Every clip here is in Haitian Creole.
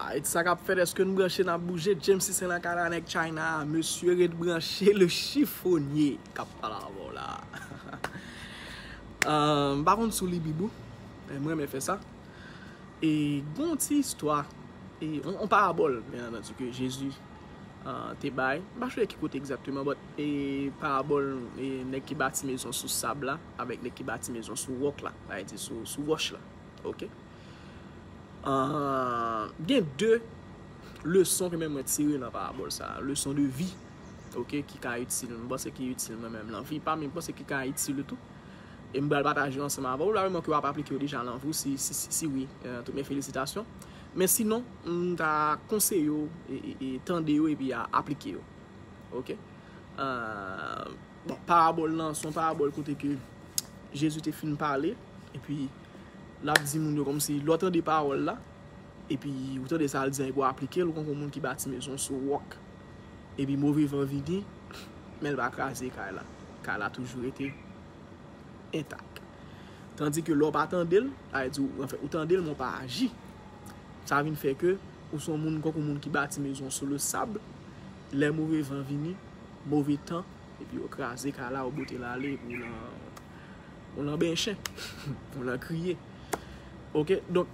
Haiti sa kap fèt eske nou branche nap bouje Jamesy sen lakay la nèg china a mesye ret branche le chiffonye kap pale avèw la m pa konn sou li bibou men m renmen fè sa e gon yon ti istwa yon parabòl byen antandi ke jezi te bay m pa chonje ki kote egzakteman but e parabòl nèg ki bati mezon sou sab la avèk nèg ki bati mezon sou wòk la sa vle di sou wòch la ok. Gen 2 leson ke men mwen tire nan parabòl sa a, leson de vi ok ki ka itil nou, mwen panse ki itil mwen menm nan vi pa m, e mwen panse ki ka itil ou tou, e m pral pataje yo ansanm avè w, la reman ke w ap aplike yo deja nan vi w, si wi, tout mes felisitasyon, men sinon m ta konseye w tande yo epi aplike yo ok. Bon, parabòl lan, son parabòl kote ke Jezi te fin pale, epi lap di moun yo kòm si lò tande paròl la, epi ou tande sa l di an epi w aplike l, ou konn kon moun ki bati mezon sou wòk, epi move van vini, men l pa kraze kay la, kay la toujou rete entak. Tandi ke lò w pa tande l, sa vle di, anfen, ou tande l men w pa aji, sa vin fè ke ou son moun konk yon moun ki bati mezon sou le sab, lè move van vini, move tan epi yo kraze kay la ou bote l ale epi ou lan ou lan benyen chen ou lan kriye ok donk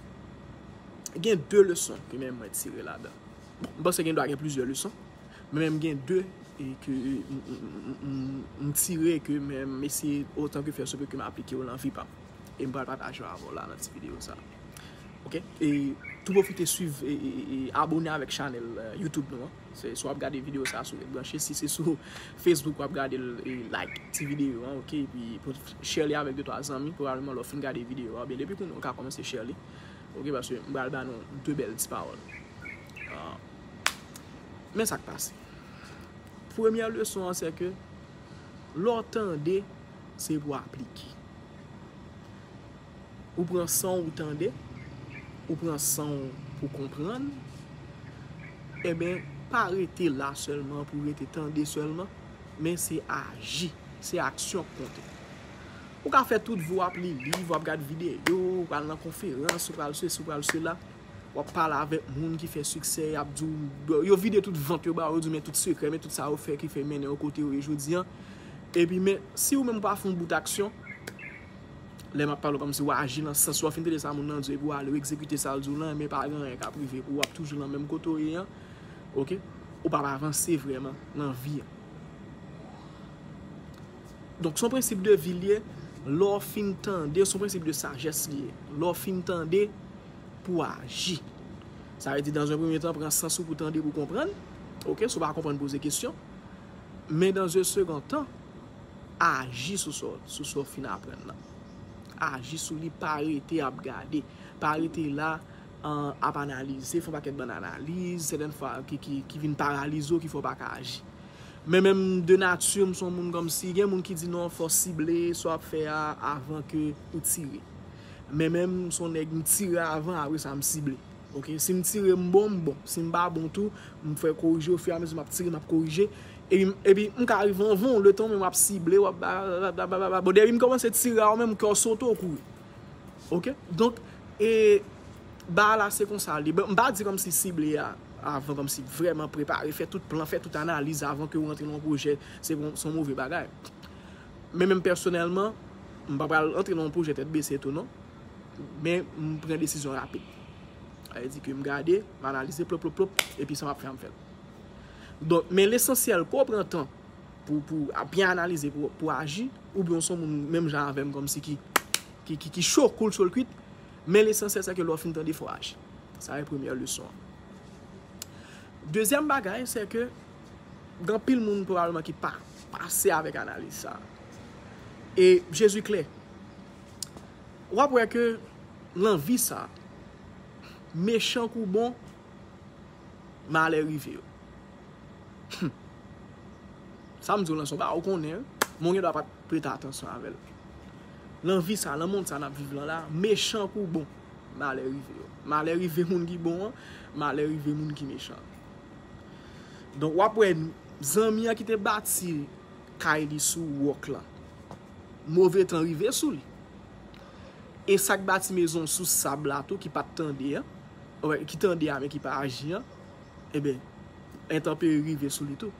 gen 2 leson ke men mwen tire ladan bon m panse gen dwa gen plizyè leson men m gen 2 e ke m tire ke men m eseye otan ke fè se pou ke m aplike yo lan vi pa m e m pral pataje yo avè w la nan ti videyo sa ok e tou pwofite swiv e abone avèk chanèl youtube nou an. Se si wap gade video sa sou Red Branche, si se sou Facebook wap gade l like ti video an ok epi share li avèk 2 3 zanmi pwobableman lè w fin gade video a oubyen depi kounye a ou ka kòmanse share li ok paske m pral ba nou 2 bèl ti pawòl men sak pase premyè leson an se ke lè w tande se pou aplike. Ou pran sanw ou tande, ou pran sanw pou konprann, enben pa rete la sèlman pou rete tande sèlman, men se aji, se aksyon k konte. Ou ka fè tout vi w ap li liv, w ap gad videyo, ou pral nan konferans, ou pral sesi, ou pral sela, w ap pale avèk moun ki fè siksè, y ap di w, yo vide tout vant yo ba ou, yo di w men tout sekrè, men tout sa yo fè ki fè mennen yo kote yo ye jodi an, epi men si ou menm ou pa fè yon bout aksyon, Lè map pale w kòmsi wap aji nan sans wap fin tande sa moun nan di w epi wap ale w egzekite sa l di w lan men pa gen anyen kap rive pou w wap toujou nan menm kote w ye an ok ou pap avanse vrèman nan vi an donk son prensip de vi l ye lè w fin tande son prensip de sajès li ye lè w fin tande pou w aji sa vle di dan zon premye tan pran sans ou pou tande pou w konprann ok si w pa konprann poze kesyon men dan ze segontan. Aji sou sa w fin aprann lan. Aji sou li, pa rete ap gade. Pa rete la ap analize, fè yon pakèt bann analiz, sèten fwa ki vin paralize w, ki fè w pa ka aji. Men menm de nati m se yon moun kòmsi, gen moun ki di non fò w sible sa w ap fè a avan ke ou tire. Men menm m se yon nèg m tire avan apre sa m sible. Ok si m tire m bon m bon si m pa bon tou m fè korije o fi a mezi map tire map korije epi m ka rive anvan w letan w menm wap sible wap blablabla bon depi m komanse tire a ou menm kè w sote w kouri ok donk e baay la se konsa l ye m pa di kòmsi sible a avan kòmsi vrèman prepare fè tout plan fè tout analiz avan ke w rantre nan yon pwojè se yon move bagay men menm pèsonèlman m pa pral rantre nan yon pwojè tèt bese tou non. Men, m pran desizyon rapid. Sa vle di ke m gade, m analize, plop, plop, plop, epi sa m ap fè, m fè l. Donk, men lesansyèl, ke w pran tan pou w byen analize, pou w aji, oubyen w se yon moun menm jan avè m kòmsi ki cho, koul cho l kwit, men lesansyèl sè ke lè w fin tande, fò w aji. Sa e premyè leson an. Dezyèm bagay, sè ke gen anpil moun pwobableman ki pa pase avèk analiz sa a. E Jezi klè. Wap wè ke lan vi sa, mechan kou bon, malè rive yo. Hum. Sa m di w lan se yon bagay ou konnen wi, men ou gen dwa pat prete atansyon avè l. Lan vi sa, lan mond sa nap viv lan la, mechan kou bon, malè rive yo. Malè rive moun ki bon an, malè rive moun ki mechan an. Donk wap wè zanmi an ki te bati kay li sou wòk lan. Move tan rive sou li. E sa k bati mezon sou sab la tou ki pa t tande an, ki tande a men ki pa aji an, eben, entanperi rive sou li tou.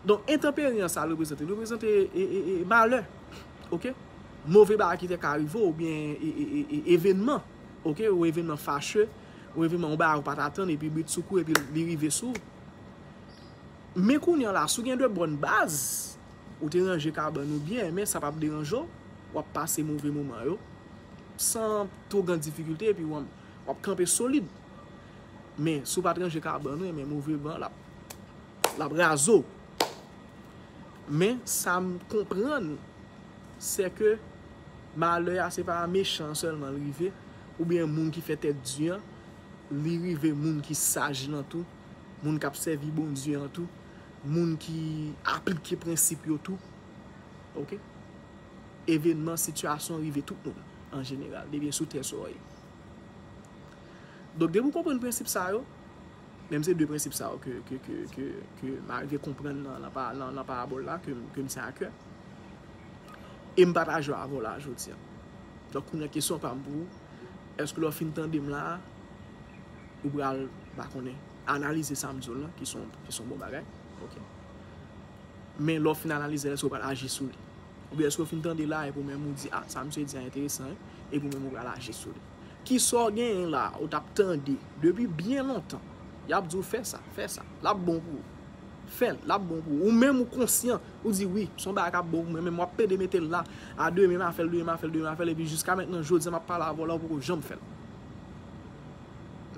Donk, entanperi an sa l reprezante? Li reprezante malè. Ok? Move bagay ki te ka rive ou byen evenman. Ok? Yon evenman fache, yon evenman ou bagay ou pa t atann epi britsoukou epi li rive sou ou. Men kounye an la, si w gen de bòn baz, Ou te ranje kabann ou byen, men sa pap deranje w, w ap pase move moman yo san two gran difikilte epi w ap kanpe solid. Men, si w pa t ranje kabann ou, enben move van l ap raze w. Men, sa m konprann, se ke malè a se pa a mechan an sèlman li rive, oubyen moun ki fè tèt di an, li rive moun ki saj lan tou, moun k ap sèvi Bondye an tou. moun ki aplike prensip yo tou. Ok. Evenman, sitiyasyon rive tout moun an jeneral, depi n sou tè solèy. Donk depi w konprann prensip sa yo, menm se 2 prensip sa yo ke m arive konprann nan parabòl la, ke m tyen a kè, e m pataje yo avè w la jodi a. Donk kounye a kesyon pa m pou ou, èske lè w fin tande m la a, ou pral, m pa konnen. Analize sa m di w lan ki s on bon bagay. Ok. Men lè w fin analize l, èske w pral aji sou li? Oubyen èske w fin tande la epi w menm ou di, a, sa misye di a enteresan wi, epi w menm ou pral aji sou li? Ki sa w genyen la a ou t ap tande depi byen lontan y ap di w fè sa, fè sa, l ap bon pou ou? Fè l, l ap bon pou ou. Ou menm ou konsyan, ou di wi, s on bagay k ap bon pou mwen men m ap pede mete l la a demen m a fè l, demen m a fè l, demen m a fè l epi jiska mètnan jodi a m ap pale avè w la ou poko janm fè l.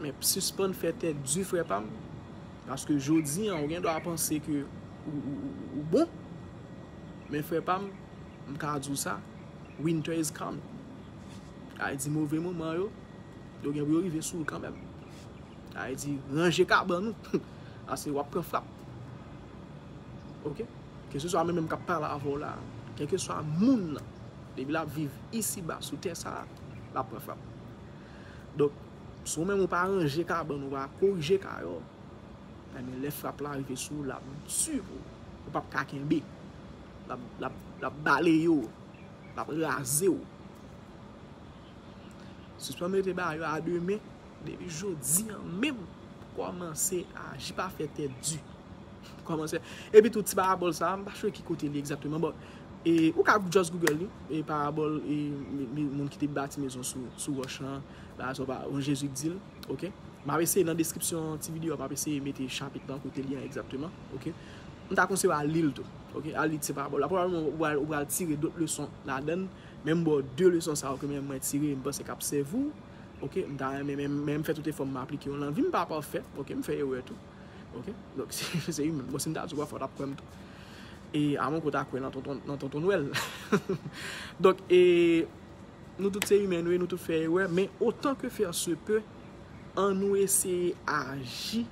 Men sispann fè tèt di frè pam, paske jodi an ou gen dwa panse ke ou bon, men frè pam, m ka di w sa, winter is coming. Sa vle di move moman yo, yo gen pou yo rive sou ou kanmèm. Sa vle di ranje kabann ou, paske w ap pran frap. Ok, keseswa mwen menm k ap pale avè w la, kèlkeswa moun nan, depi l ap viv isiba sou tè sa a, l ap pran frap. Donk, si ou menm ou pa ranje kabann ou pa korije kay ou, enben lè frap la rive sou ou l ap di pou ou. Ou pap ka kenbe. L ap baleye ou. L ap raze ou. Sispann mete bagay yo a de men. Depi jodi an menm, kòmanse aji. Pa fè tèt di. Kòmansè. Epi tou ti parabòl sa a, m pa sure ki kote li egzakteman but e ou ka just Google li, e parabòl e moun ki te bati mezon sou wòch lan, bagay sa w pa, bon Jezi k di l, ok. M ap eseye nan deskripsyon ti videyo a, m ap eseye mete chapit lan kote li an egzakteman, ok. M ta konseye w al li l tou, ok, al li ti parabòl la. Pwobableman ou pral ou pral tire dot leson ladan l, men m ba w de leson sa yo ke menm mwen tire e m panse k ap sèvi w, ok. M ta renmen men men m fè tout efò m aplike yo nan vi m, m pa pafè, ok, m fè erè tou. Ok donk se u menm bon sim ta di ou a fòw tap kwèm tou e amon kota kwè nan tonton nan tonton nwèl donk e nou tout se u menm nou tout fè erè men otan ke fè se pe an nou eseye aji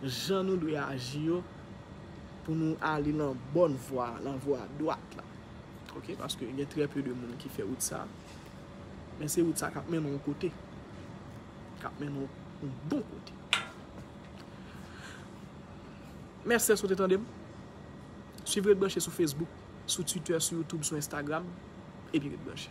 jan nou dwe aji yo pou nou ale nan bòn vwa nan vwa dwat la ok paske gen trè pe de moun ki fè wout sa men se wout sa kap mennen yon kote kap mennen yon bon kote. Mèsi dèske w te tande m. Swiv Ret Branche sou Facebook, sou Twitter, sou YouTube, sou Instagram, epi ret branche.